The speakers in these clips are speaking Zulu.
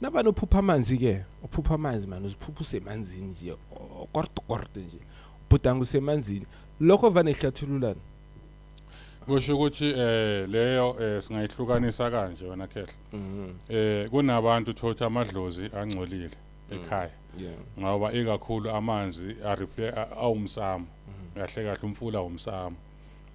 nabani ophupha amanzi ke uphupha amanzi mani uziphupha usemanzini nje korto korto nje ubhudanga usemanzini lokho vane ihlathululana kusho ukuthi eh leyo eh, singayihlukanisa kanje wena khehla mhm. eh kunabantu thotha amadlozi angcolile mm. ekhaya ngoba ikakhulu amanzi awumsamo mhm. kahle kahle umfula womsamo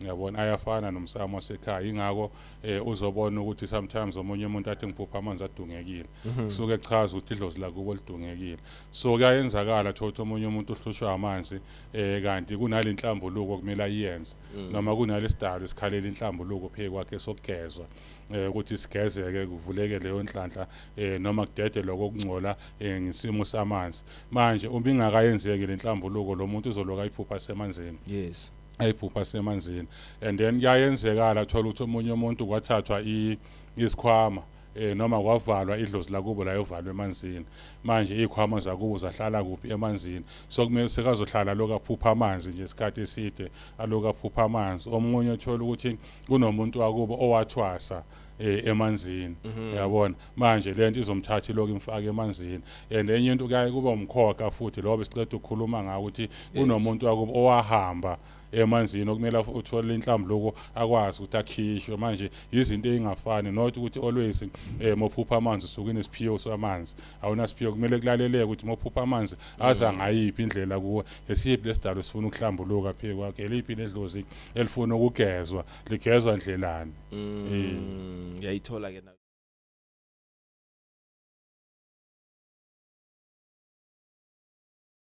yabona ayafana nomsamo wasekhaya ingakho eh uzobona ukuthi sometimes omunye umuntu athi ngiphupha amanzi adungekile mhm. kusuke echaza ukuthi idlozi lakubo lidungekile so kuyayenzakala thothi omunye umuntu uhlushwa amanzi eh kanti kunale nhlambuluko kumele ayenze mm. noma kunale sidalo esikhalela inhlambuluko phe kwakhe sokugezwa eh, ukuthi sigezeke kuvuleke leyo nhlanhla eh, noma kudede lokho okungcola eh, ngisimo samanzi manje uma ingakayenzeki lenhlambuluko lo muntu uzoloka iphupha semanzini yes ayiphupha semanzini and then kuyayenzekala thola ukuthi omunye umuntu kwathathwa isikhwama eh noma kwavalwa idlozi lakubo layovalwa emanzini manje izikhwama zakubo zahlala kuphi emanzini so kumele sekazohlala lokaphupha amanzi nje isikhathi eside alokaphupha amanzi omunye uthola ukuthi kunomuntu wakubo owathwasa eh, emanzini mhm. uyabona manje lento izomthatha lokho imfaka emanzini and enye into kuyaye kuba umkhoka futhi lobo sicela ukukhuluma ngawo ukuthi kunomuntu wakubo owahamba emanzini okumele uthole inhlambuluko akwazi ukuthi akhishwe manje izinto ezingafani not ukuthi always eh mophupha amanzi usuke nesiphiwo samanzi awuna siphiwo kumele kulaleleke ukuthi mophupha amanzi aza mm. ngayiphi indlela kuwe esiphi lesidalo sifuna ukuhlambuluka phe kwakhe eliphi nedlozi elifuna ukugezwa ligezwa ndlelani Mm, ngiyayithola ke na